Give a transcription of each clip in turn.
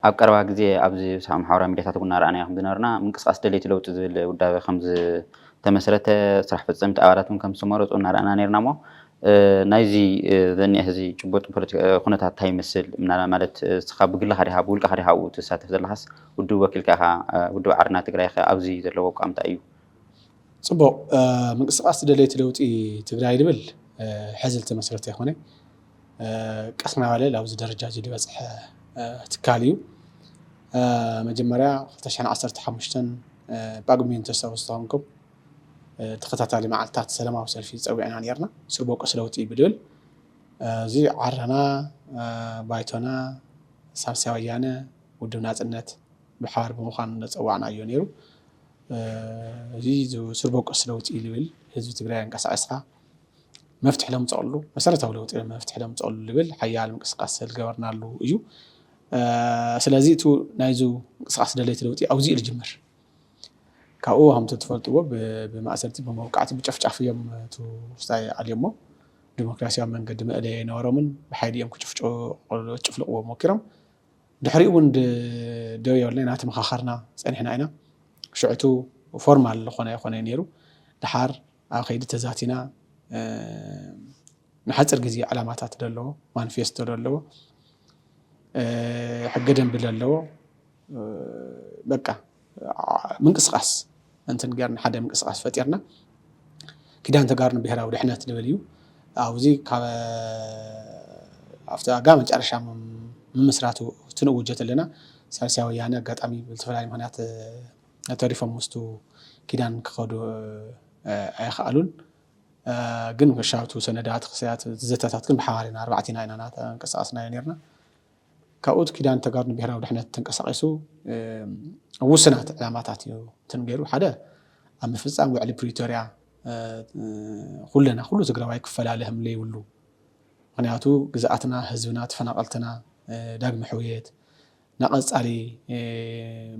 ኣብ ቀረባ ግዜ ኣብ ዝሰኣኑ ማሕበራዊ ሚድያታት እውን እናረኣናዮ ከምዝነበርና ምንቅስቓስ ደለይቲ ለውጢ ዝብል ውዳበ ከምዝተመስረተ፣ ስራሕ ፈፀምቲ ኣባላት እውን ከምዝተመረፁ እናረኣና ነይርና እሞ ናይዚ ዝኒሀ ሕዚ ጭቡጥ ፖለቲካዊ ኩነታት እንታይ ይመስል? ምናልባት ማለት ንስኻ ብግልኻ ዲኻ ብውልቀኻ ዲኻ ኣብኡ ትሳተፍ ዘለኻስ ውድብ ወኪልካ ኢኻ? ውድብ ዓረና ትግራይ ከ ኣብዚ ዘለዎ ኣቋም እንታይ እዩ? ፅቡቕ፣ ምንቅስቓስ ደለይቲ ለውጢ ትግራይ ዝብል ሕዚ ዝተመስረተ ኣይኮነይ። ቀስ እናበለ ኣብዚ ደረጃ እዚ ዝበፅሐ ትካል እዩ። መጀመርያ ክልተ ሽሕን ዓሰርተ ሓሙሽተን ጳጉሜን ተስታውሱ ተኾንኩም ተኸታታሊ መዓልትታት ሰላማዊ ሰልፊ ፀዊዕና ነይርና ስር ቦቀስ ለውጢ ብልብል እዚ ዓረና ባይቶና ሳልሳይ ወያነ ውድብ ናፅነት ብሓባር ብምዃን ዘፀዋዕናዮ ነይሩ። እዚ ስር ቦቀስ ለውጢ ልብል ህዝቢ ትግራይ ኣንቀሳቒስካ መፍትሒ ለምፀኣሉ መሰረታዊ ለውጢ መፍትሒ ለምፀኣሉ ዝብል ሓያል ምንቅስቃስ ዝገበርናሉ እዩ ስለዚ እቲ ናይዚ ምንቅስቃስ ደለይቲ ለውጢ ኣብዚኡ ዝጅምር ካብኡ ከምቲ ትፈልጥዎ ብማእሰርቲ ብመውቃዕቲ ብጨፍጫፍ እዮም እቲ ውስጣይ ኣልዮሞ ዲሞክራሲያዊ መንገዲ መእለየ ኣይነበሮምን ብሓይሊ እዮም ክጭፍጭ ጭፍልቕዎ ሞኪሮም ድሕሪኡ እውን ደው የብልና ኢና ተመኻኸርና ፀኒሕና ኢና ሽዕቱ ፎርማል ዝኾነ ኣይኮነ ነይሩ ድሓር ኣብ ከይዲ ተዛቲና ንሓፅር ግዜ ዕላማታት ዘለዎ ማኒፌስቶ ዘለዎ ሕገ ደንቢ ዘለዎ በቃ ምንቅስቃስ እንትን ገርና ሓደ ምንቅስቃስ ፈጢርና ኪዳን ተጋሩ ንብሔራዊ ድሕነት ዝብል እዩ ኣብዚ ካብ ኣብቲ ኣጋ መጨረሻ ምምስራቱ ትንውጀት ኣለና ሳልሳይ ወያነ ኣጋጣሚ ብዝተፈላለዩ ምክንያት ተሪፎም ምስቱ ኪዳን ክኸዱ ኣይኸኣሉን። ግን መሻቱ ሰነዳት ክሰያት ዘተታት ግን ብሓባር ኢና ኣርባዕቲና ኢና ናተንቀሳቀስናዮ ኔርና። ካብኡ እቲ ኪዳን ተጋሩ ንብሄራዊ ድሕነት ተንቀሳቂሱ ኣብ ውሱናት ዕላማታት እዩ እንትን ገይሩ ሓደ ኣብ ምፍጻም ውዕሊ ፕሪቶርያ ኩለና ኩሉ ትግራዋይ ክፈላለ ከም ዘይብሉ ምክንያቱ ግዝኣትና፣ ህዝብና፣ ተፈናቀልትና ዳግመ ሕውየት ናቐፃሊ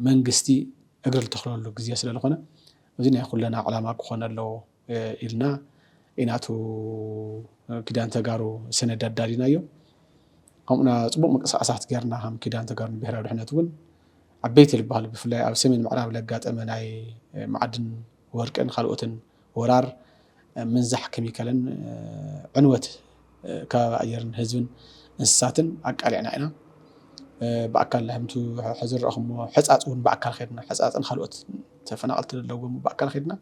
መንግስቲ እግሪ ልተኽለሉ ግዜ ስለልኾነ እዚ ናይ ኹለና ዕላማ ክኾን ኣለዎ ኢልና ኢና እቱ ኪዳን ተጋሩ ሰነድ ኣዳሊናዮ። ከምኡና ፅቡቕ ምቅስቓሳት ገይርና ከም ኪዳን ተጋሩ ንብሄራዊ ድሕነት እውን ዓበይቲ ልበሃሉ ብፍላይ ኣብ ሰሜን ምዕራብ ለጋጠመ ናይ ማዕድን ወርቅን ኻልኦትን ወራር፣ ምንዛሕ ከሚካልን ዕንወት ከባቢ ኣየርን ህዝብን እንስሳትን ኣቃሊዕና ኢና። ብኣካል ህምቱ ሕዚ ዝረእኹሞ ሕፃፅ እውን ብኣካል ከድና ሕፃፅን ካልኦት ተፈናቐልቲ ዘለዎም ብኣካል ከድና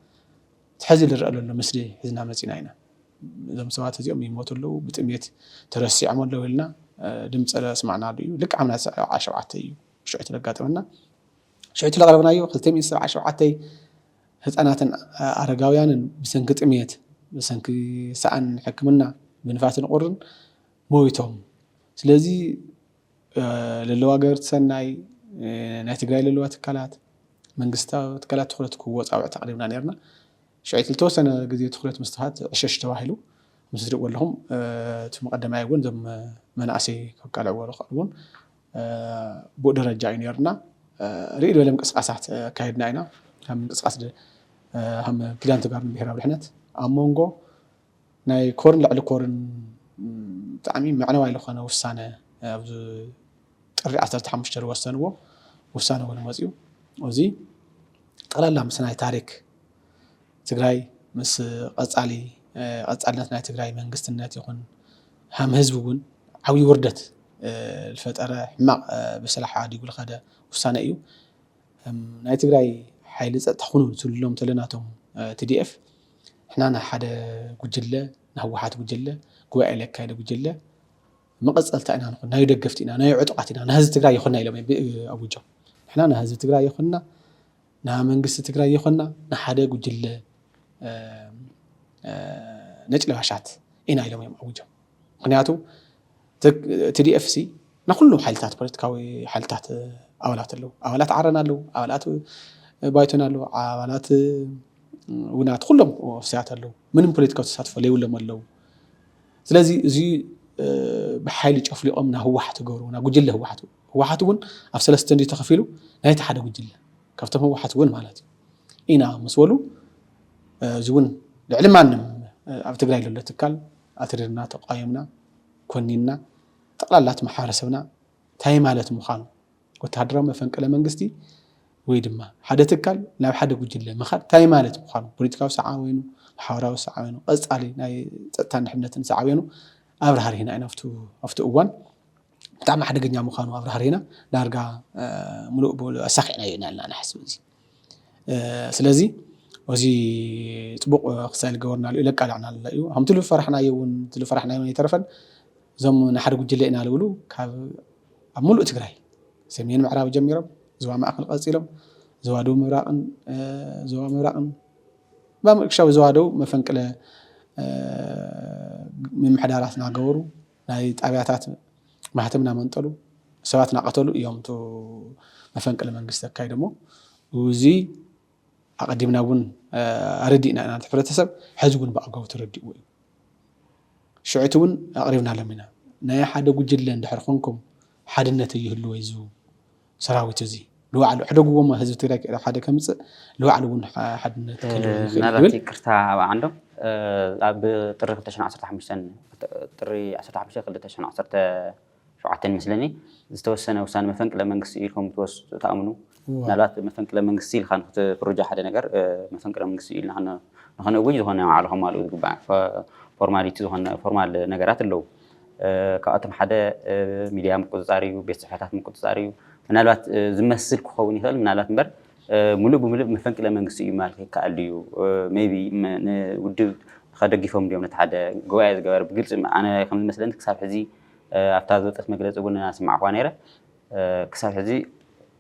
ሕዚ ዝረአ ዘሎ ምስሊ ሒዝና መፂና ኢና። እዞም ሰባት እዚኦም ይሞቱ ኣለዉ ብጥሜት ተረሲዖም ኣለዉ ኢልና ድምፂ ስማዕናሉ እዩ ልክዕ ኣብ ናይ ዓሰርተ ሸውዓተ እዩ ሽዑ እቲ ዘጋጠመና ሽዑ እቲ ዘቕረብናዮ ክልተ ሚእቲ ሰብዓ ሸውዓተ ህጻናትን ኣረጋውያንን ብሰንኪ ጥምየት፣ ብሰንኪ ሰኣን ሕክምና፣ ብንፋስን ቁርን ሞይቶም። ስለዚ ለለዋ ገበርቲ ሰናይ፣ ናይ ትግራይ ለለዋ ትካላት፣ መንግስታዊ ትካላት ትኹረት ክህቦ ጻውዒት ኣቕሪብና ነይርና። ሽዕቲ ልተወሰነ ግዜ ትኹረት ምስ ተዋሃበት ዕሸሽ ተባሂሉ። ምስ እትሪእዎ ኣለኹም እቲ መቐደማይ እውን እዞም መናእሰይ ከቃልዕዎ ዝኽእሉ እውን ብኡ ደረጃ እዩ ነርና ርእይ ዝበለ ምንቅስቃሳት ኣካየድና ኢና ከም ምንቅስቃስ ከም ኪዳን ተጋሩ ብሄራዊ ድሕነት ኣብ መንጎ ናይ ኮርን ልዕሊ ኮርን ብጣዕሚ መዕነዋይ ዝኾነ ውሳነ ኣብዚ ጥሪ ዓሰርተ ሓሙሽተ ዝወሰንዎ ውሳነ እውን መፅኡ እዚ ጠቕላላ ምስ ናይ ታሪክ ትግራይ ምስ ቀፃሊ ቀፃልነት ናይ ትግራይ መንግስትነት ይኹን ሃም ህዝቢ እውን ዓብይ ውርደት ልፈጠረ ሕማቅ ብስላ ሓዲጉ ልኸደ ውሳነ እዩ። እም ናይ ትግራይ ሓይሊ ፀጥታ ኩኑ ትብልሎም ተለና እቶም ቲዲኤፍ ንሕና ናይ ሓደ ጉጅለ ናይ ህወሓት ጉጅለ ጉባኤ ለካየደ ጉጅለ መቐፀልታ ኢና ንኹን ናዩ ደገፍቲ ኢና ናዩ ዕጡቓት ኢና ናይ ህዝቢ ትግራይ የኾና ኢሎም ኣዊጆም ንሕና ናይ ህዝቢ ትግራይ የኾና ንመንግስቲ ትግራይ ይኾና ንሓደ ጉጅለ ነጭ ለባሻት ኢና ኢሎም እዮም ኣዊጆም። ምክንያቱ ቲዲኤፍ ሲ ንኩሉም ሓይልታት ፖለቲካዊ ሓይልታት ኣባላት ኣለዉ። ኣባላት ዓረና ኣለዉ፣ ኣባላት ባይቶና ኣለዉ፣ ኣባላት ውናት ኩሎም ፍስያት ኣለዉ። ምንም ፖለቲካዊ ተሳትፎ ለይብሎም ኣለዉ። ስለዚ እዚ ብሓይሊ ጨፍሊቖም ናብ ህወሓት ገሩ ናብ ጉጅለ ህወሓት ህወሓት እውን ኣብ ሰለስተ እንድዩ ተኸፊሉ ናይቲ ሓደ ጉጅለ ካብቶም ህወሓት እውን ማለት እዩ ኢና ምስ በሉ እዚ እውን ልዕሊ ማንም ኣብ ትግራይ ዘሎ ትካል ኣትሪርና ተቋዮምና ኮኒንና ጠቕላላት ማሕበረሰብና እንታይ ማለት ምዃኑ ወተሃደራዊ መፈንቅለ መንግስቲ ወይ ድማ ሓደ ትካል ናብ ሓደ ጉጅለ ምኻድ እንታይ ማለት ምዃኑ ፖለቲካዊ ሰዓበኑ ማሕበራዊ ሰዓበኑ ቀፃሊ ናይ ፀጥታን ድሕነትን ሰዓበኑ ኣብርሃሪህና ኢና ኣብቲ እዋን ብጣዕሚ ሓደገኛ ምዃኑ ኣብራህሪና ዳርጋ ምሉእ ብምሉእ ኣሳኺዕናዮ ኢና ኢልና ንሓስብ እዚ ስለዚ እዚ ፅቡቕ ክሳኤል ገበርናሉ እዩ ለቃላዕናሉ እዩ ከምቲ ዝፈራሕናዮ እውን ዝፈራሕናዮ ኣይተረፈን እዞም ንሓደ ጉጅለ ኢና ዝብሉ ካብ ኣብ ሙሉእ ትግራይ ሰሜን ምዕራብ ጀሚሮም ዞባ ማእኸል ቀፂሎም ዞባ ደቡብ ምብራቕን ዞባ ምብራቕን ባምርክሻዊ ዞባ ደቡብ መፈንቅለ ምምሕዳራት እናገበሩ ናይ ጣብያታት ማህተም እናመንጠሉ ሰባት እናቐተሉ እዮም እቶ መፈንቅለ መንግስቲ ኣካይዶሞ። እዚ ኣቐዲምና እውን ኣረዲእና ኢና ነቲ ሕብረተሰብ፣ ሕዚ እውን ብኣግባቡ ተረዲእዎ እዩ። ሽዑ እቲ እውን ኣቕሪብናሎም ኢና። ናይ ሓደ ጉጅለ እንድሕር ኾንኩም ሓድነት ኣይህልዎ እዩ ዝብሉ። ሰራዊት እዚ ንባዕሉ ኣሕደግዎ እሞ ህዝቢ ትግራይ ኣብ ሓደ ከምፅእ ንባዕሉ እውን ሓድነት ክህልዎ ይኽእል እዩ ምናልባት ክብል ይቅርታ ኣብ ዓንዶም እ፣ ኣብ ጥሪ 2015 ጥሪ 15 2017 ይመስለኒ ዝተወሰነ ውሳነ መፈንቅለ መንግስቲ እዩ ኢልኩም ትወስ ትኣምኑ እዋ። ምናልባት መፈንቅለ መንግስቲ ኢልካ ንክትፍርጆ ሓደ ነገር እ፣ መፈንቅለ መንግስቲ እዩ ኢልና ክነ- ንክነእውጅ ዝኾነ ባዕሉ ከማልኡ ዝግባእ ፎ- ፎርማሊቲ ዝኾነ ፎርማል ነገራት ኣለዉ ካብኣቶም ሓደ ሚድያ ምቁፅፃር እዩ፣ ቤት ፅሕፈታት ምቁፅፃር እዩ። ምናልባት ዝመስል ክኸውን ይኽእል ምናልባት እምበር ሙሉእ ብሙሉእ መፈንቅለ መንግስቲ እዩ ምባል ይከኣል ድዩ? ሜይ ቢ ንውድብ ከደጊፎም ድዮም ነቲ ሓደ ጉባኤ ዝገበረ ብግልፂ ኣነ ከም ዝመስለኒ ክሳብ ሕዚ ኣብታ ዝወፀት መግለፂ እውን ኣስማዕኹዋ ነይረ ክሳብ ሕዚ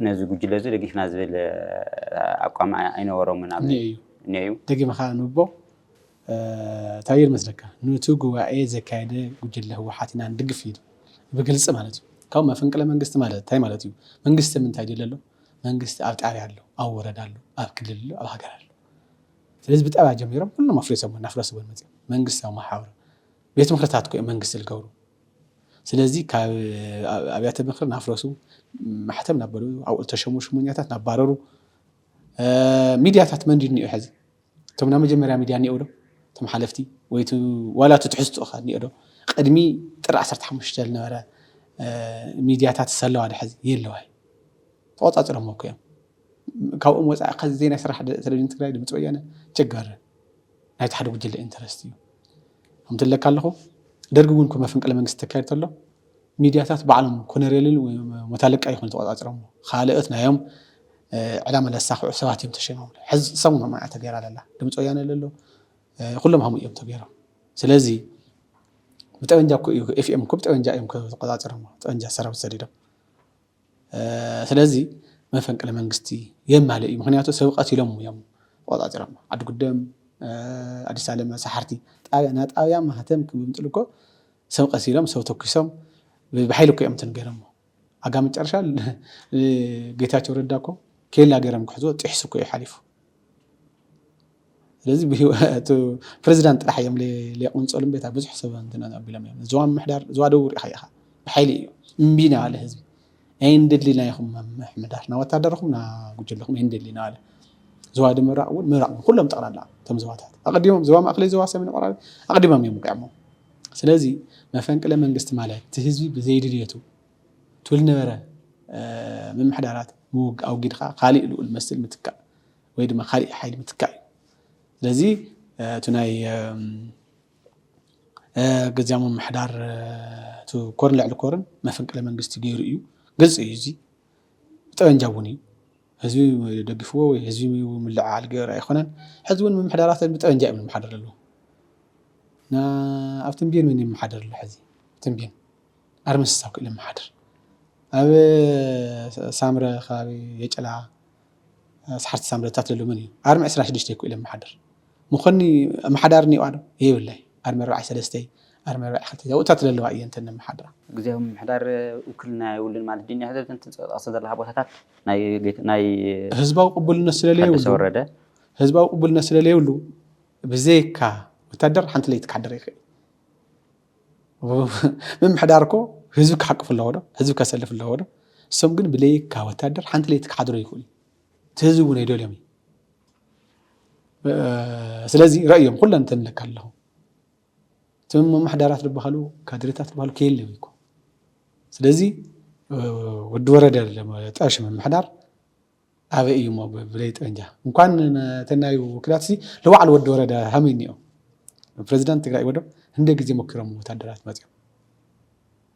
ነዚ ጉጅለ እዚ ደጊፍና ዝብል ኣቋም ኣይነበሮምን እኒኦ እዩ። ደጊምኻ ኣንብቦ። ታየ ልመስለካ ኑቲ ጉባኤ ዘካየደ ጉጅለ ህወሓት ኢና ንድግፍ ኢሉ ብግልፂ ማለት እዩ ካብኡ መፈንቅለ መንግስቲ ማለት እንታይ ማለት እዩ መንግስቲ ምንታይ ድለ ኣሎ መንግስቲ ኣብ ጣብያ ኣሎ ኣብ ወረዳ ኣሎ ኣብ ክልል ኣሎ ኣብ ሃገር ኣሎ ስለዚ ብጣብያ ጀሚሮም ኩሎም ኣፍሪሶም እናፍረስዎ መፅኦም መንግስታዊ መሓውር ቤት ምክርታት ኮ መንግስቲ ዝገብሩ ስለዚ ካብ ኣብያተ ምክሪ ናፍረሱ ማሕተም ናበሉ ኣብኡ ዝተሸሙ ሽሙኛታት ናባረሩ ሚድያታት መን ድዩ እኒኦ ሕዚ እቶም ናይ መጀመርያ ሚድያ እኒኦው ዶ እቶም ሓለፍቲ ወይ እቲ ዋላ እቲ ትሕዝትኡ ከ እኒኦ ዶ ቅድሚ ጥሪ ዓሰርተ ሓሙሽተ ዝነበረ ሚድያታትስ ኣለዋ ዶ ሐዚ የለዋ እዩ ተቆፃፂሮሞ እኮ እዮም ካብኦም ወፃኢ ከዚ ዜና ይስራሕ ቴሌቪዥን ትግራይ ድምፂ ወያነ ቸገር ናይቲ ሓደ ጉጅለ ኢንተረስት እዩ ከምቲ ለካ ኣለኹ ደርጊ እውን እኮ መፈንቅለ መንግስቲ ተካይድ ተሎ ሚድያታት ባዕሎም ኮነሬልን ሞታለቃ ይኹኑ ተቆፃፂሮሞ ኻልኦት ናዮም ዕላማ ለሳኽዑ ሰባት እዮም ተሸይሞምሉ ሕዚ ሰሙን ሀሙን እያ ተገይራ ለላ ድምፂ ወያነ ለሎ ኩሎም ሀሙን እዮም ተገይሮም ስለዚ ብጠበንጃ እኮ እዩ ኤፍኤም እኮ ብጠበንጃ እዮም ተቆፃፂሮሞ ጠበንጃ ሰራዊት ሰዲዶም ስለዚ መፈንቅለ መንግስቲ የማለ እዩ ምክንያቱ ሰብ ቀቲሎም እዮም ተቆፃፂሮሞ ዓዲ ጉደም ኣዲስ ኣለመ ሰሓርቲ ጣብያ ናጣብያ ማህተም ክምምጥሉ እኮ ሰብ ቀቲሎም ሰብ ተኪሶም ብሓይሊ እኮ እዮም እንትን ገይሮሞ ኣጋ መጨረሻ ንጌታቸው ረዳ እኮ ኬላ ገይሮም ክሕዝዎ ጢሕሱ እኮ እዩ ሓሊፉ ስለዚ ፕሬዚዳንት ጥራሕ እዮም ሌቁንፀሉ እምበር እታ ብዙሕ ሰብ እንትን ኣቢሎም እዮም ዞባ ምምሕዳር ዞባ ደቡብ ሪኢኻ ኢኻ ብሓይሊ እዩ እምቢ ናበለ ህዝቢ ኣይንደሊና ይኹም ምምሕዳር ና ወታደርኹም ና ጉጅልኹም ኣይንደሊና ኣለ ዞባ ምብራቕ እውን ምብራቕ ኩሎም ጠቕላላ እቶም ዞባታት ኣቐዲሞም ዞባ ማእከለይ ዞባ ሰሜን ምዕራብ ኣቐዲሞም እዮም ውቂዖሞ ስለዚ መፈንቅለ መንግስቲ ማለት እቲ ህዝቢ ብዘይድልየቱ ትብል ነበረ ምምሕዳራት ምውግ ኣውጊድካ ካሊእ ልኡል መስል ምትካእ ወይ ድማ ካሊእ ሓይሊ ምትካእ እዩ። ስለዚ እቲ ናይ ገዚያዊ ምምሕዳር እቲ ኮርን ልዕሊ ኮርን መፈንቅለ መንግስቲ ገይሩ እዩ። ግልፂ እዩ እዚ ብጠበንጃ እውን እዩ። ህዝቢ ደጊፍዎ ወይ ህዝቢ ምልዕዓል ገይሩ ኣይኮነን። ሕዚ እውን ምምሕዳራት ብጠበንጃ እዮም ዝመሓደሩ ዘለዉ። ኣብ ትምቤን መን ይመሓደር ኣሎ ሕዚ? ትምቤን ኣርምስሳብ ክኢሉ ይመሓደር። ኣብ ሳምረ ከባቢ የጨላ ሰሓርቲ ሳምረታት ዘሎ መን እዩ? ኣርሚ ዕስራን ሽዱሽተን ክኢሉ ይመሓደር። ምኾኒ ኣመሓዳሪ እኒኦዋዶ? የብላይ። ኣርሚ ኣርባዕይ ሰለስተይ፣ ኣርሚ ኣርባዕይ ክልተይ ዛውእታት ለለዋ እየን እተን ነመሓድራ። ግዝያዊ ምምሕዳር ውክልና የብሉን ማለት ድዩ? ናይ ህዝቢ ትጠቕሰን ዘለኻ ቦታታት ናይ ህዝባዊ ቅቡልነት ስለለየብሉ፣ ታደሰ ወረደ። ህዝባዊ ቅቡልነት ስለለየብሉ ብዘይካ ወታደር ሓንቲ ለይቲ ክሓድር ኣይክእልን። ምምሕዳር እኮ ህዝቢ ክሓቅፍ ኣለዎ ዶ? ህዝቢ ከሰልፍ ኣለዎ ዶ? እሶም ግን ብለይካ ወታደር ሓንቲ ለይቲ ክሓድሩ ኣይክእሉን። ትህዚ እውን ኣይደልዮም እዩ ስለዚ ረእዮም ኩለን ተንለካ ኣለኹ እቶም መማሕዳራት ዝበሃሉ ካድሬታት ዝበሃሉ ከየለው እኮ ስለዚ ወዲ ወረደ ጠርሽ ምምሕዳር ኣበይ እዩ እሞ ብለይ ጠንጃ እንኳን ተናዩ ወኪላት ሲ ለባዕሉ ወዲ ወረደ ሃመይ እኒኦም ፕሬዚዳንት ትግራይ ወዶ እንደ ግዜ ሞኪሮም ወታደራት መፅኦም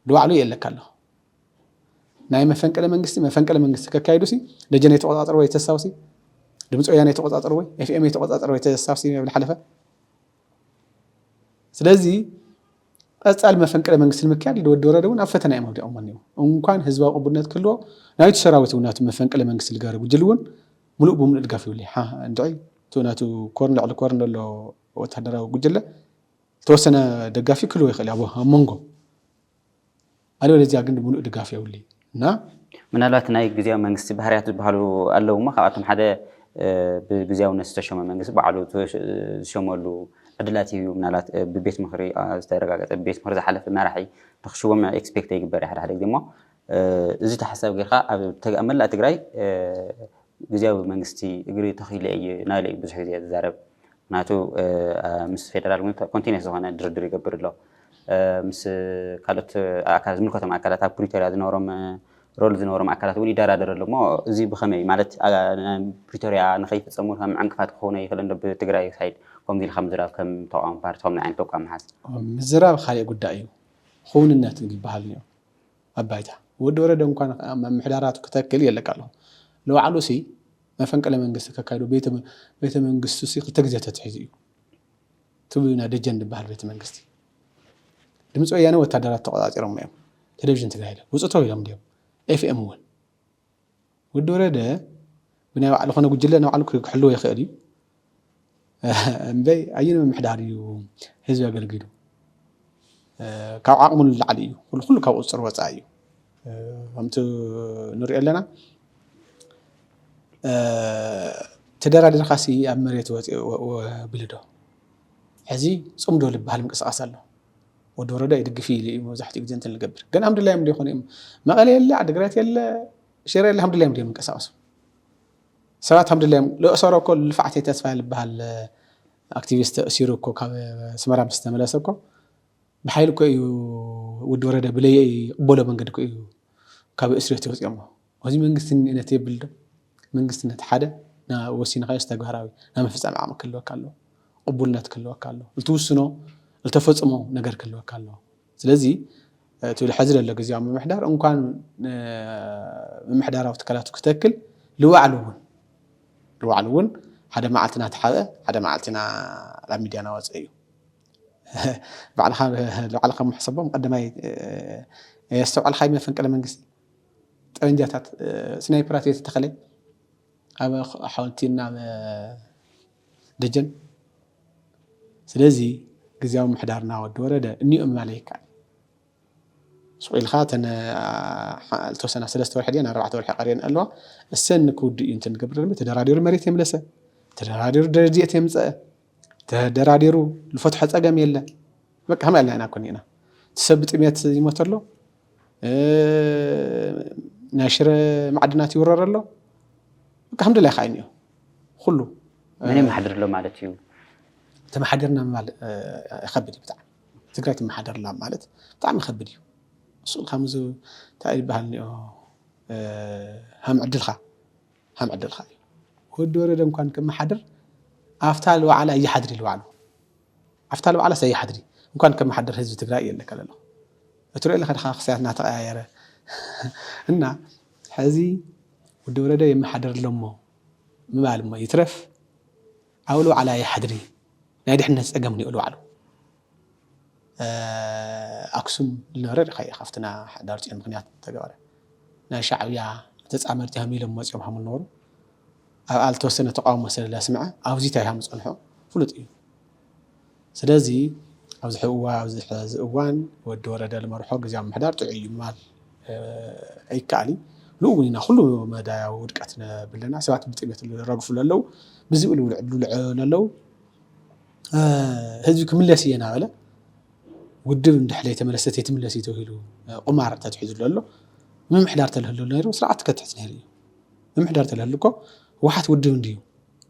ለባዕሉ የለካ ኣለኹ ናይ መፈንቅለ መንግስቲ መፈንቅለ መንግስቲ ከካይዱ ሲ ደጀን የተቆጻጸሩ ወይ ተሳው ሲ ድምፂ ወያነ የተቆጻጸሩ ወይ ኤፍኤም የተቆጻጸሩ ወይ ተሳው ሲ ይብል ሓለፈ ስለዚ ቀጻሊ መፈንቅለ መንግስቲ ንምክያድ ኢሉ ወዲ ወረደ እውን ኣብ ፈተና እዮም ኣውዲቖሞ እኒው እንኳን ህዝባዊ ቅቡልነት ክህልዎ ናይቲ ሰራዊት እውን ናቱ መፈንቅለ መንግስቲ ዝገበረ ጉጅል እውን ሙሉእ ብሙሉእ ድጋፍ ይብሉ እንድዒ እቲ ናቱ ኮርን ልዕሊ ኮርን ዘሎ ወታደራዊ ጉጅለ ዝተወሰነ ደጋፊ ክህልዎ ይኽእል ኣብ መንጎ ኣልበለዚያ ግን ሙሉእ ድጋፍ የብሉይ እና ምናልባት ናይ ግዝያዊ መንግስቲ ባህርያት ዝበሃሉ ኣለዉ እሞ ካብኣቶም ሓደ ብግዝያውነት ዝተሾመ መንግስቲ ባዕሉ ዝሸመሉ ዕድላት ይህብ እዩ። ምናልባት ብቤት ምኽሪ ዝተረጋገፀ ብቤት ምኽሪ ዝሓለፈ መራሒ ንክሽወም ኤክስፔክት ይግበር እዩ ሓደ ሓደ ግዜ እሞ እዚ ተሓሳቢ ጌርካ ኣብ መላእ ትግራይ ግዝያዊ መንግስቲ እግሪ ተኺሉ እየ ናይሉ እዩ ብዙሕ ግዜ ዝዛረብ ምክንያቱ ምስ ፌደራል ውን ኮንቲነስ ዝኾነ ድርድር ይገብር ኣሎ ምስ ካልኦት ኣካል ዝምልከቶም ኣካላት ኣብ ፕሪቶርያ ዝነበሮም ሮል ዝነበሮም ኣካላት እውን ይደራደር ኣሎ እሞ እዚ ብኸመይ ማለት ፕሪቶርያ ንኸይፍፀሙ ከም ዕንቅፋት ክኾነ ይኽእል እንዶ ብትግራይ ሳይድ ከምዚ ኢልካ ምዝራብ ከም ተቃዋሚ ፓርቲ ከምዚ ዓይነት ተቋም ምሓዝ ምዝራብ ካሊእ ጉዳይ እዩ ክውንነት ግን ይበሃል እኒኦ ኣብ ባይታ ወዲ ወረደ እንኳን ምምሕዳራቱ ክተክል የለካ ኣሎ ንባዕሉሲ መፈንቅለ መንግስቲ ከካይዶ ቤተ መንግስቱሲ ክልተ ግዜ ተትሒዙ እዩ ትብሉና ደጀን ዝበሃል ቤተ መንግስቲ ድምፂ ወያነ ወታደራት ተቆፃፂሮሞ እዮም ቴሌቭዥን ትግራይ ውፅተው ኢሎም ድዮም ኤፍኤም እውን ወዲ ወረደ ብናይ ባዕሉ ኮነ ጉጅለ ናይ ባዕሉ ክሕልዎ ይኽእል እዩ እምበይ ኣየን ምምሕዳር እዩ ህዝቢ ኣገልጊሉ ካብ ዓቕሙ ንላዕሊ እዩ ኩሉ ኩሉ ካብ ቁፅር ወፃኢ እዩ ከምቲ ንሪኦ ኣለና ተደራዲርካሲ ኣብ መሬት ወፂ ብልዶ ሕዚ ፅምዶ ዝበሃል ምንቅስቃስ ኣሎ ወዲ ወረዳ ይድግፍ እዩ ኢሉ እዩ መብዛሕትኡ ግዜ እንትን ልገብር ግን ሃምድላዮም ዶ ይኾኑ እዮም መቐለ የለ ዓድግራት የለ ሽረ የለ ሃምድላዮም ዶ እዮም እንቀሳቀሱ ሰባት ሃምድላዮም ልእሰሮ እኮ ልፋዕተይ ተስፋ ልበሃል ኣክቲቪስት ተእሲሩ እኮ ካብ ስመራ ምስ ተመለሰ እኮ ብሓይሊ እኮ እዩ ወዲ ወረደ ብለየ ይቕበሎ መንገዲ እኮ እዩ ካብ እስርዮት የውፅኦሞ እዚ መንግስቲ ንእነት የብል ዶ? መንግስትነት ሓደ ናብ ወሲንኻዮስ ተግባራዊ ናይ ምፍጻም ዓቕሚ ክህልወካ ኣለዎ። ቕቡልነት ክህልወካ ኣለዎ። ልትውስኖ ልተፈጽሞ ነገር ክህልወካ ኣለዎ። ስለዚ እቲ ሕዚ ዘሎ ግዝያዊ ምምሕዳር እንኳን ምምሕዳራዊ ትካላቱ ክተክል ልባዕሉ እውን ልባዕሉ እውን ሓደ መዓልቲ እናተሓበ ሓደ መዓልቲ ኢና ናብ ሚድያ እናወፀ እዩ። ባዕልኻ ባዕልኻ ምሕሰቦም ቀዳማይ የስተውዓልካይ መፈንቅለ መንግስቲ ጠበንጃታት ስናይፐራት እየተተኸለ ኣብ ሓወልቲ እና ኣብ ደጀን ስለዚ ግዝያዊ ምሕዳርና ወዲ ወረደ እኒኦም ምባል ኣይከኣል ስቁ ኢልካ እተን ዝተወሰና ሰለስተ ወርሒ ድየን ኣርባዕተ ወርሒ ቀርየን ኣለዋ እሰን ክውድእ እዩ እንተንገብር ተደራዲሩ መሬት የምለሰ ተደራዲሩ ደረድኤት የምፀአ ተደራዲሩ ልፈትሖ ጸገም የለ በቃ ከመይ ኣልና ኢና ኮን ኢና እቲ ሰብ ብጥሜት ይሞት ኣሎ ናይ ሽረ ማዕድናት ይውረር ኣሎ በቃ ከምደላይ ከዓ እኒኦ ኩሉ መን የመሓድር ኣሎ ማለት እዩ ተመሓደርና ምባል ይኸብድ እዩ ብጣዕሚ ትግራይ ትመሓደርላ ማለት ብጣዕሚ ይኸብድ እዩ እሱ ከምዚ እንታይ ይበሃል እኒኦ ከም ዕድልካ ሃም ዕድልካ እዩ። ወዲ ወረደ እንኳን ከመሓድር ኣፍታ ልዋዕላ እይሓድሪ ልዋዕሉ ኣፍታ ልዋዕላ ሰይሓድሪ እንኳን ከመሓድር ህዝቢ ትግራይ እየ ለከለ ኣለኹ እትሪኦ ኣለካ ድካ ክሳያት እናተቀያየረ እና ሕዚ ወዲ ወረደ የመሓደር ኣለሞ ምባል እሞ ይትረፍ ኣብ ልዋዕላ ይሓድሪ ናይ ድሕነት ፀገም ኒኦ ልዋዕሉ ኣክሱም ዝነበረ ሪኢካዮ ኢካ ኣብቲ ናይ ሕዳርፅዮን ምክንያት ዝተገበረ ናይ ሻዕብያ ተፃመድቲ ሃም ኢሎም መፅዮም ሃም ዝነበሩ ኣብኣ ዝተወሰነ ተቃውሞ ስለ ዘስምዐ ኣብዚ እንታይ ሃም ዝፀንሖ ፍሉጥ እዩ ስለዚ ኣብዚ ሕዚ እዋን ወዲ ወረደ ዝመርሖ ግዝያዊ ምምሕዳር ጥዑይ እዩ ምባል ኣይከኣልን ንኡ እውን ኢና ኩሉ መዳያዊ ውድቀት ነብለና ሰባት ብጥሜት ዝረግፉ ለለው ብዝብኢ ዝብልዑ ለለው ህዝቢ ክምለስ እየ እናበለ ውድብ እንድሕር ዘይተመለሰት ኣይትምለስ እዩ ተባሂሉ ቁማር ተትሒዙሉ ኣሎ ምምሕዳር ተልህሉ ነይሩ ስርዓት ከትሕዝ ነይሩ እዩ ምምሕዳር ተልህሉ እኮ ህወሓት ውድብ እንድዩ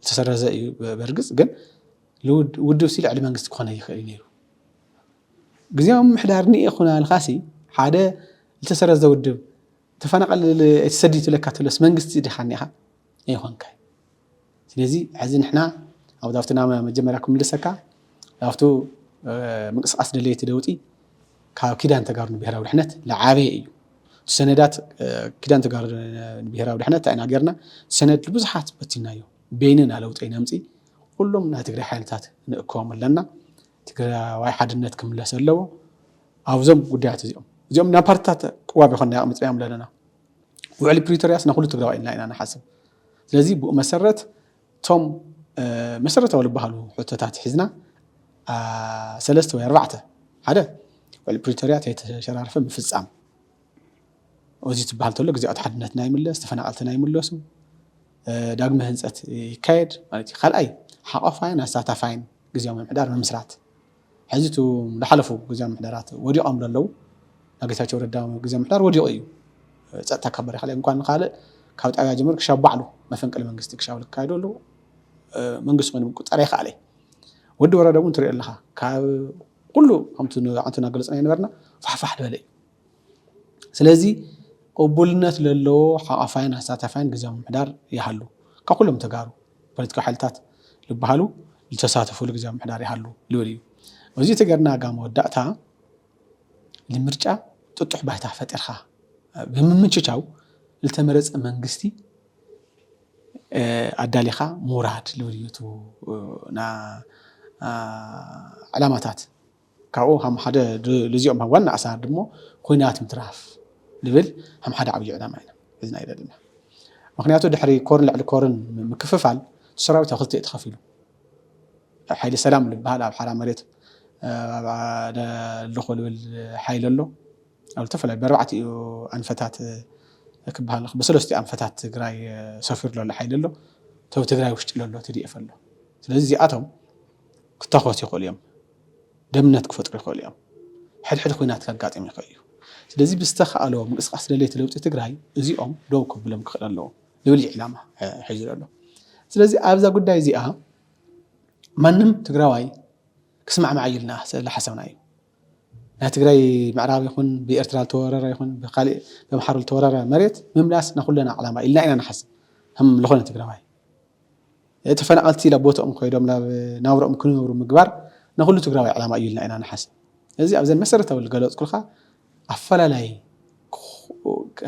ዝተሰረዘ እዩ በርግፅ ግን ውድብ ሲ ልዕሊ መንግስቲ ክኾነ ይኽእል እዩ ነይሩ ግዜያዊ ምምሕዳር ኒኤ ኩና ኢልካሲ ሓደ ዝተሰረዘ ውድብ ተፈናቐል ተሰዲድ ትብለካ ተሎስ መንግስቲ ዲኻ እኒኻ ኣይኾንካይ ስለዚ ሕዚ ንሕና ኣብ ኣብቲ ናብ መጀመርያ ክምልሰካ ኣብቱ ምንቅስቃስ ደለይቲ ለውጢ ካብ ኪዳን ተጋሩ ንብሔራዊ ድሕነት ለዓበየ እዩ እቲ ሰነዳት ኪዳን ተጋሩ ንብሔራዊ ድሕነት እንታይ ኢና ጌርና ሰነድ ብዙሓት በቲናዮ በይንና ለውጢ ነምፂ ኩሎም ናይ ትግራይ ሓይልታት ንእከቦም ኣለና ትግራዋይ ሓድነት ክምለስ ኣለዎ ኣብዞም ጉዳያት እዚኦም እዚኦም ናብ ፓርትታት ቅዋብ ይኮና ኣቕሚጥናዮም ኣለና ውዕሊ ፕሪቶርያስ ንኩሉ ትግራዋይ ኢልና ኢና ንሓስብ ስለዚ ብኡ መሰረት እቶም መሰረታዊ ዝበሃሉ ሕቶታት ሒዝና ሰለስተ ወይ ኣርባዕተ ሓደ ውዕሊ ፕሪቶርያ ተይተሸራርፈ ምፍፃም እዚ ትበሃል ተሎ ግዜኣት ሓድነትና ይምለስ ተፈናቐልትና ይምለሱ ዳግመ ህንፀት ይካየድ ማለት እዩ ካልኣይ ሓቋፋይን ኣሳታፋይን ግዜያዊ ምምሕዳር ምምስራት ሕዚ እቶም ዝሓለፉ ግዝያዊ ምምሕዳራት ወዲቖም ዶ ኣለዉ? ናይ ጌታቸው ረዳ ግዝያዊ ምምሕዳር ወዲቑ እዩ። ፀጥታ ካብ በሪኽ እንኳን ንካልእ ካብ ጣብያ ጀሚሩ ክሻብ ባዕሉ መፈንቅለ መንግስቲ ክሻብ ዝካየዱ ኣለዉ። መንግስቲ ኮይኑ ምቁፅፃር ኣይከኣለ እዩ። ወዲ ወረደ እውን ትሪኦ ኣለኻ ካብ ኩሉ ከምቲ ኣንቱና ገለፅናዮ ነበርና ፋሕፋሕ ዝበለ እዩ። ስለዚ ቅቡልነት ለለዎ ሓቛፋይን ኣሳታፋይን ግዝያዊ ምምሕዳር ይሃሉ። ካብ ኩሎም ተጋሩ ፖለቲካዊ ሓይልታት ልበሃሉ ልተሳተፍሉ ግዝያዊ ምምሕዳር ይሃሉ ልብል እዩ። እዙይ ተገርና ኣብ መወዳእታ ልምርጫ ጥጡሕ ባይታ ፈጢርካ ብምምችቻው ልተመረፀ መንግስቲ ኣዳሊኻ ምውራድ ልብል እዩ እቲ ዕላማታት። ካብኡ ሃም ሓደ ልዚኦም ሃም ዋና ኣሳር ድሞ ኹናት ምትራፍ ልብል ሃም ሓደ ዓብዩ ዕላማ ኢና ሒዝና ይደልና ምክንያቱ ድሕሪ ኮርን ልዕሊ ኮርን ምክፍፋል ትሰራዊት ኣብ ክልተ ተኸፊሉ ሓይሊ ሰላም ልበሃል ኣብ ሓራ መሬት ልኾ ልብል ሓይሊ ኣሎ ኣብ ዝተፈላለዩ በርባዕት እዩ ኣንፈታት ክበሃል ብሰለስቲ ኣንፈታት ትግራይ ሰፊሩ ዘሎ ሓይሊ ኣሎ ተብ ትግራይ ውሽጢ ለሎ ትድኤፍ ኣሎ ስለዚ እዚኣቶም ክተኮሱ ይኽእሉ እዮም ደምነት ክፈጥሩ ይኸእሉ እዮም። ሕድሕድ ኹናት ከጋጥም ይኸእ እዩ። ስለዚ ብዝተኸእሎ ምንቅስቃስ ደለይቲ ለውጢ ትግራይ እዚኦም ደው ከብሎም ክኸእል ኣለዎ ልብል እዩ ዕላማ ሒዙ ዘሎ። ስለዚ ኣብዛ ጉዳይ እዚኣ ማንም ትግራዋይ ክስማዕማዕ እዩ ኢልና ስለሓሰብና እዩ። ናይ ትግራይ ምዕራብ ይኹን ብኤርትራ ዝተወረረ ይኹን ብካሊእ በምሓሩ ዝተወረረ መሬት ምምላስ ናኹለና ዕላማ ኢልና ኢና ንሓስብ ከም ዝኾነ ትግራዋይ ተፈናቐልቲ ናብ ቦትኦም ኮይዶም ናብ ናብረኦም ክነብሩ ምግባር ናኹሉ ትግራዋይ ዕላማ እዩ ኢልና ኢና ንሓስብ። ስለዚ ኣብዘን መሰረታዊ ዝገለፅኩልካ ኣፈላላይ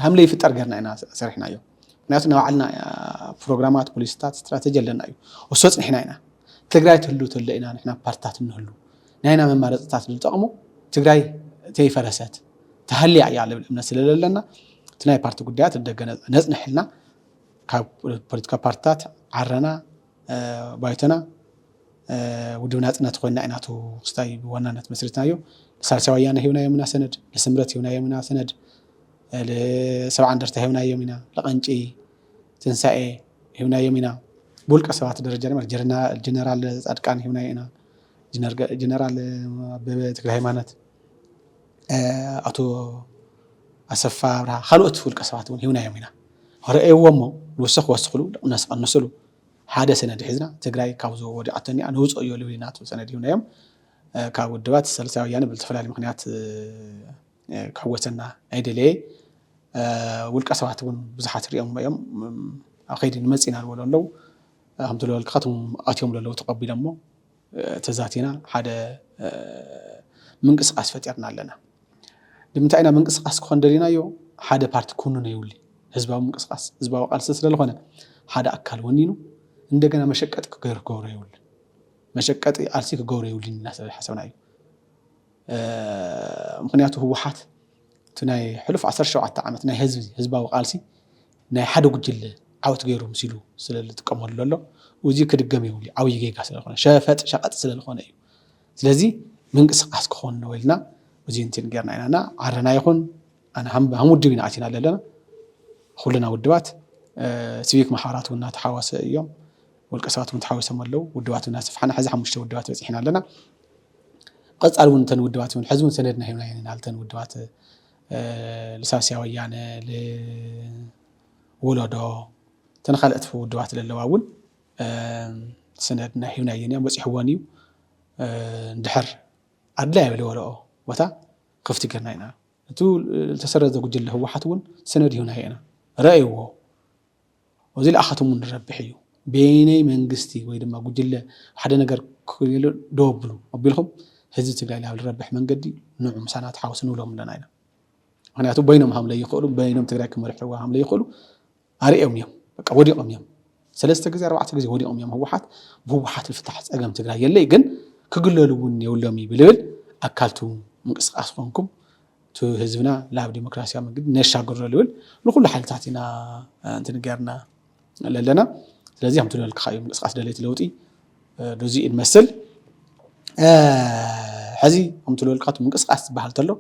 ሃም ለይፍጠር ገይርና ኢና ሰሪሕናዮ። ምክንያቱ ናይ ባዕልና ፕሮግራማት፣ ፖሊሲታት፣ ስትራተጂ ኣለና እዩ። እሱ ኣፅኒሕና ኢና። ትግራይ ትህሉ ተሎ ኢና ንሕና ፓርትታት እንህሉ። ናይና መማረፅታት ዝጠቕሙ ትግራይ ተይፈረሰት ተሃልያ እያ ልብል እምነት ስለለለና እቲ ናይ ፓርቲ ጉዳያት ንደገ ነፅንሕ ኢልና ካብ ፖለቲካዊ ፓርትታት ዓረና፣ ባይቶና፣ ውድብ ናጽነት ኮይንና ኢና እቲ ክስታይ ብዋናነት መስሪትናዮ። ንሳልሳይ ወያነ ሂብናዮም ኢና ሰነድ፣ ንስምረት ሂብናዮም ኢና ሰነድ፣ ንሰብዓ እንደርታ ሂብናዮም ኢና፣ ንቐንጪ፣ ትንሳኤ ሂብናዮም ኢና። ብውልቀ ሰባት ደረጃ ድማ ንጀነራል ጻድቃን ሂብናዮ ኢና፣ ንጀነራል ኣበበ ተክለሃይማኖት፣ ኣቶ ኣሰፋ ኣብርሃ ካልኦት ውልቀ ሰባት እውን ሂብናዮም ኢና ረኣይዎ እሞ ንውሰኽ ክወስኽሉ ድቕነስ ክቕንስሉ ሓደ ሰነድ ሒዝና ትግራይ ካብዞ ወዲቓቶ እኒኣ ነውፅኦ እዮ ልብል ኢና ትብል ሰነድ ሂብናዮም ካብ ውድባት ሳልሳይ ወያነ ብዝተፈላለየ ምክንያት ክሕወሰና ኣይደለየ ውልቀ ሰባት እውን ብዙሓት ሪኦሞ እዮም ኣብ ከይዲ ንመፅእ ኢና ዝበሉ ኣለው ከምቲ ዝበልካ እቶም ኣትዮም ለለው ተቐቢሎሞ ተዛቲና ሓደ ምንቅስቃስ ፈጢርና ኣለና ንምንታይ ኢና ምንቅስቃስ ክኾን ደሊናዮ ሓደ ፓርቲ ኩኑነ ይውሊ ህዝባዊ ምንቅስቃስ ህዝባዊ ቃልሲ ስለዝኾነ ሓደ ኣካል ወኒኑ እንደገና መሸቀጢ ክገብሮ የብሉን መሸቀጢ ቃልሲ ክገብሮ የብሉን ኢና ስለ ሓሰብና እዩ ምክንያቱ ህወሓት እቲ ናይ ሕሉፍ ዓሰርተ ሸውዓተ ዓመት ናይ ህዝቢ ህዝባዊ ቃልሲ ናይ ሓደ ጉጅለ ዓወት ገይሩ ምሲሉ ስለ ልጥቀመሉ ዘሎ ኡዚ ክድገም የብሉይ ዓብይ ጌጋ ስለ ልኾነ ሸፈጥ ሸቀጥ ስለ ልኾነ እዩ ስለዚ ምንቅስቃስ ክኾን ነው ኢልና ኡዚ እንትን ገርና ኢና እና ዓረና ይኹን ኣነ ሃም ሃም ውድብ ኢና ኣቲና ለለና ኹልና ውድባት ሲቪክ ማሕበራት ውን ናተሓዋሰ እዮም ውልቀ ሰባት ውን ተሓዊሶም ኣለው ውድባት ውን ናሰፍሓና ሕዚ ሓሙሽተ ውድባት በፂሕና ኣለና ቐፃሊ ውን እተን ውድባት ውን ሕዚ ውን ሰነድና ሂብና ኢና ልተን ውድባት ልሳስያ ወያነ ልውለዶ እተን ካልኦት ውድባት ለለዋ እውን ስነድ ናይ ሂብናየን እያ በፂሕወን እዩ እንድሕር ኣድላይ ለበለኦ ቦታ ክፍቲ ገርና ኢና እቲ ልተሰረዘ ጉጅለ ህወሓት እውን ስነድ ሂብናዮ ኢና ረእይዎ እዚ ልኣኻቶም እውን ዝረብሕ እዩ። በየነይ መንግስቲ ወይ ድማ ጉጅለ ሓደ ነገር ክክየሉ ደው ኣብሉ ኣቢልኩም ህዝቢ ትግራይ ናብ ዝረብሕ መንገዲ ንዑ ምሳና ተሓወሱ ንብሎም ኣለና ኢሎም። ምክንያቱ በይኖም ሃም ለይክእሉ በይኖም ትግራይ ክመርሕዋ ሃም ለይክእሉ ኣርእዮም እዮም። በቃ ወዲቆም እዮም። ሰለስተ ግዜ ኣርባዕተ ግዜ ወዲቆም እዮም ህወሓት ብህወሓት ዝፍታሕ ፀገም ትግራይ የለይ ግን ክግለሉ እውን የብሎምይ ብልብል ኣካልቱ ምንቅስቃስ ኮንኩም እቲ ህዝብና ናብ ዲሞክራሲያዊ መንግዲ ነሻግሮ ልብል ንኩሉ ሓይልታት ኢና እንትንገርና ለለና ስለዚ ከምቲ ዝበልክኻ እዩ ምንቅስቃስ ደለይቲ ለውጢ ዶዚ እንመስል ሕዚ ከምቲ ዝበልካ እቲ ምንቅስቃስ ዝበሃል ተሎ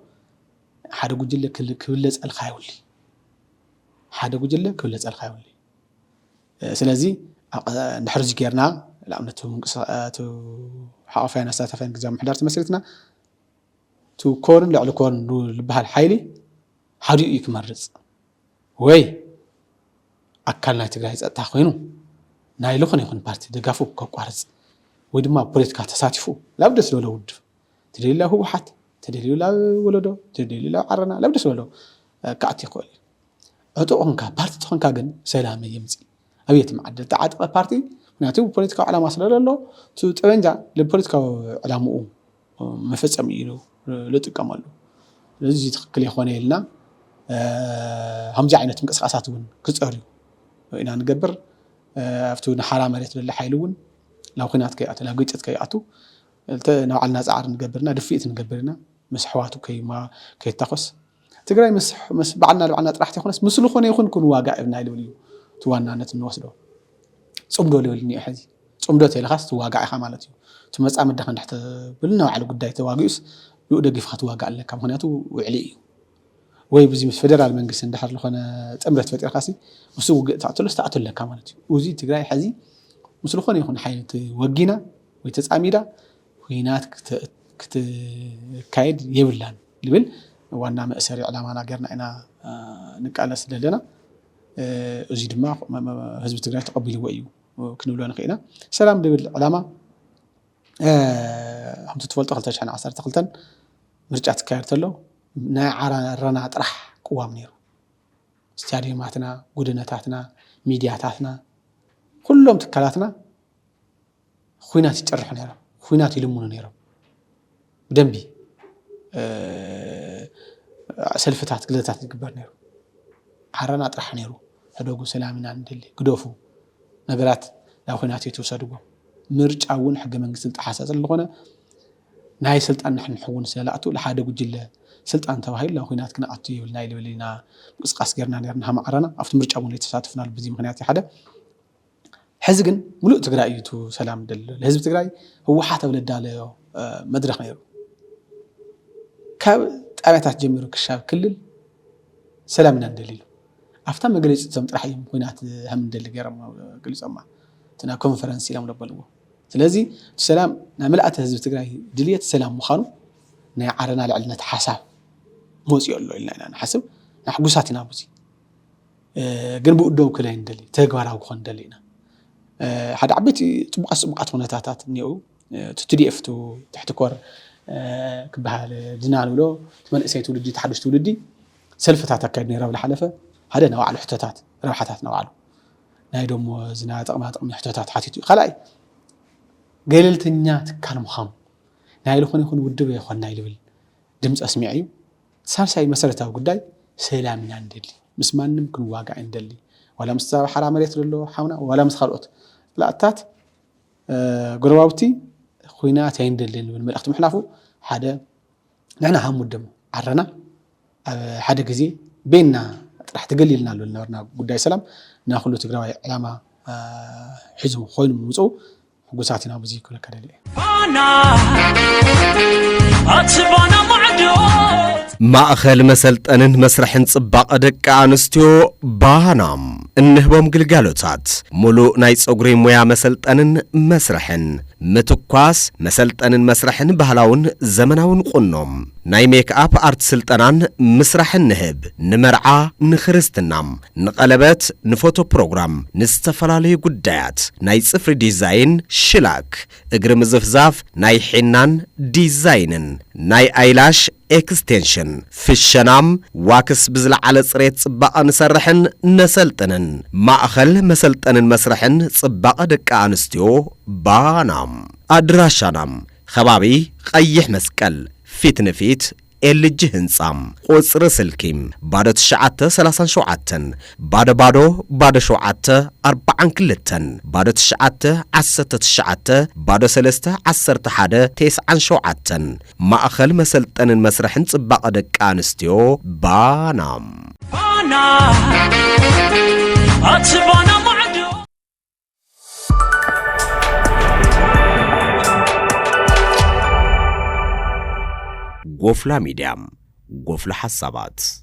ሓደ ጉጅለ ክብለፀልካ ይብሉ ሓደ ጉጅለ ክብለፀልካ ይብሉ ስለዚ ድሕሪ እዚ ጌርና ንኣብነት ሓቆፋይን ኣሳታፋይን ግዜ ምሕዳር ተመስሪትና እቲ ኮርን ልዕሊ ኮርን ልበሃል ሓይሊ ሓዲኡ እዩ ክመርፅ ወይ ኣካል ናይ ትግራይ ፀጥታ ኮይኑ ናይ ልኾነ ይኹን ፓርቲ ደጋፉ ከቋርፅ ወይ ድማ ኣብ ፖለቲካ ተሳቲፉ ላብ ደስ ዝበሎ ውድብ ተደልዩ ላብ ህወሓት ተደልዩ ላብ ወለዶ ተደልዩ ላብ ዓረና ላብ ደስ ዝበሎ ክኣቲ ይኽእል እዩ። ዕጡቕ ኾንካ ፓርቲ ተኾንካ ግን ሰላም የምፂ ኣብ የትም ዓዲ ዝተዓጠቐ ፓርቲ ምክንያቱ ፖለቲካዊ ዕላማ ስለዘሎ እቲ ጠበንጃ ንፖለቲካዊ ዕላምኡ መፈፀሚ እዩ ዝጥቀመሉ ስለዚ እዚ ትክክል ኣይኮነ ኢልና ከምዚ ዓይነት ምንቅስቃሳት እውን ክፀርዩ ኢና ንገብር ኣብቲ ንሓራ መሬት ዘሎ ሓይሊ እውን ናብ ኩናት ከይኣቱ ናብ ግጭት ከይኣቱ ንባዕልና ፃዕሪ ንገብር ኢና ድፍኢት ንገብር ኢና ምስ ኣሕዋቱ ከይታኮስ ትግራይ ምስ ባዕልና ንባዕልና ጥራሕ ተይኮነስ ምስ ዝኾነ ይኹን ክንዋጋእ እብና ኢሉ እዩ እቲ ዋናነት እንወስዶ ፅምዶ ልብል እኒኦ ሕዚ ፅምዶ ተይልኻስ ትዋጋዕ ኢኻ ማለት እዩ እቲ መፃምድኻ እንድሕ ተብል ንባዕሉ ጉዳይ ተዋጊኡስ ብኡ ደጊፍኻ ትዋጋእ ኣለካ ምክንያቱ ውዕሊ እዩ ወይ ብዚ ምስ ፌደራል መንግስቲ እንድሕር ዝኾነ ጥምረት ፈጢርካ ሲ ምስ ውግእ ተኣትሎስ ተኣትሎ ኣለካ ማለት እዩ እዚ ትግራይ ሕዚ ምስ ዝኾነ ይኹን ሓይሊ ወጊና ወይ ተፃሚዳ ኹናት ክትካየድ የብላን ልብል ዋና መእሰሪ ዕላማና ገርና ኢና ንቃለስ ደለና። እዙይ ድማ ህዝቢ ትግራይ ተቐቢልዎ እዩ ክንብሎ ንኽእል ኢና። ሰላም ልብል ዕላማ ከምቲ ትፈልጦ ክልተ ሽሕን ዓሰርተ ክልተን ምርጫ ትካየድ ተሎ ናይ ዓረና ጥራሕ ቅዋም ነይሩ። ስታድዮማትና፣ ጉደነታትና፣ ሚድያታትና፣ ኹሎም ትካላትና ኹናት ይጭርሑ ነይሮም፣ ኹናት ይልምኑ ነይሮም። ብደንቢ ሰልፍታት ግዘታት ይግበር ነይሩ። ዓረና ጥራሕ ነይሩ ሕደጉ ሰላም ኢና ንደሊ ግደፉ ነገራት ናብ ኹናት ኣይትውሰድዎ። ምርጫ እውን ሕገ መንግስቲ ዝጠሓሰ ስለዝኾነ ናይ ስልጣን ንሕንሕውን ስለዝኣቱ ንሓደ ጉጅለ ስልጣን ተባሂሉ ናብ ኹናት ክንኣቱ የብልና ኢልና ምንቅስቓስ ገይርና ነይርና ሃም ዓረና ኣብቲ ምርጫ እውን ኣይተሳተፍናሉ በዚ ምኽንያት እዩ ሓደ። ሕዚ ግን ሙሉእ ትግራይ እዩ እቱ ሰላም ደሊ ዘሎ ህዝቢ ትግራይ ህወሓት ኣብ ለዳለዮ መድረኽ ነይሩ ካብ ጣብያታት ጀሚሩ ክሻብ ክልል ሰላም ኢና ንደሊ ኢሉ ኣብታ መግለፂቶም ጥራሕ እዮም ኩናት ከም ንደሊ ገይሮም ገሊፆማ እቲ ናብ ኮንፈረንስ ኢሎም ለበልዎ ስለዚ እቲ ሰላም ናይ መልእተ ህዝቢ ትግራይ ድልየት ሰላም ምዃኑ ናይ ዓረና ልዕልነት ሓሳብ መፅኦ ኣሎ ኢልና ኢና ንሓስብ ንሕጉሳት ኢና ብዙ ግን ብኡ ደው ክለ ንደሊ ተግባራዊ ክኾን ንደሊ ኢና ሓደ ዓበይቲ ፅቡቃት ፅቡቃት ኩነታታት እኒኡ እቲ ትዲኤፍ ቱ ትሕቲ ኮር ክበሃል ድና ንብሎ እቲ መንእሰይ ትውልዲ እቲ ሓዱሽ ትውልዲ ሰልፍታት ኣካየድ ነይሩ ኣብ ዝሓለፈ ሓደ ናይ ባዕሉ ሕቶታት ረብሓታት ናይ ባዕሉ ናይ ደሞ ዝና ጥቕማ ጥቕሚ ሕቶታት ሓቲቱ እዩ ካልኣይ ገለልተኛ ትካል ምዃኑ ናይ ዝኾነ ይኹን ውድብ ኣይኮና ይልብል ድምፂ ኣስሚዐ እዩ ሳልሳይ መሰረታዊ ጉዳይ ሰላም ኢና ንደሊ ምስ ማንም ክንዋጋእ ኣይንደሊ ዋላ ምስ ዛባ ሓራ መሬት ዘሎ ሓውና ዋላ ምስ ካልኦት ላእታት ጎረባብቲ ኩናት ኣይንደልን ዝብል መልእኽቲ ምሕላፉ ሓደ ንሕና ሃም ውድም ዓረና ኣብ ሓደ ግዜ ቤና ጥራሕ ተገሊልና ኣሎ ዝነበርና ጉዳይ ሰላም ናኩሉ ትግራዋይ ዕላማ ሒዙ ኮይኑ ምምፅኡ ሕጉሳት ኢና ብዙይ ክብለካ ደልየ። ማእኸል መሰልጠንን መስርሕን ጽባቐ ደቂ ኣንስትዮ ባናም እንህቦም ግልጋሎታት ሙሉእ ናይ ጸጉሪ ሙያ መሰልጠንን መስርሕን ምትኳስ መሰልጠንን መስርሕን ባህላውን ዘመናውን ቁኖም ናይ ሜክኣፕ ኣርት ስልጠናን ምስራሕን ንህብ ንመርዓ ንክርስትናም ንቐለበት፣ ንፎቶ ፕሮግራም፣ ንዝተፈላለዩ ጉዳያት፣ ናይ ጽፍሪ ዲዛይን፣ ሽላክ፣ እግሪ ምዝፍዛፍ፣ ናይ ሒናን ዲዛይንን፣ ናይ ኣይላሽ ኤክስቴንሽን፣ ፍሸናም፣ ዋክስ ብዝለዓለ ጽሬት ጽባቐ ንሰርሕን ነሰልጥንን። ማእኸል መሰልጠንን መስርሕን ጽባቐ ደቂ ኣንስትዮ ባና። ኣድራሻና፣ ኸባቢ ቐይሕ መስቀል ፊት ንፊት ኤልጂ ህንጻ ቁጽሪ ስልኪ ባዶ ትሽዓተ ሰላሳን ሸውዓተን ባዶ ባዶ ባዶ ሸውዓተ ኣርባዓን ክልተን ባዶ ትሽዓተ ዓሰርተ ትሽዓተ ባዶ ሰለስተ ዓሰርተ ሓደ ቴስዓን ሸውዓተን ማእኸል መሰልጠንን መስርሕን ጽባቐ ደቂ ኣንስትዮ ባና ባና ኣቲ ባና ማዕዶ ጎፍላ ሚድያ፣ ጎፍላ ሓሳባት።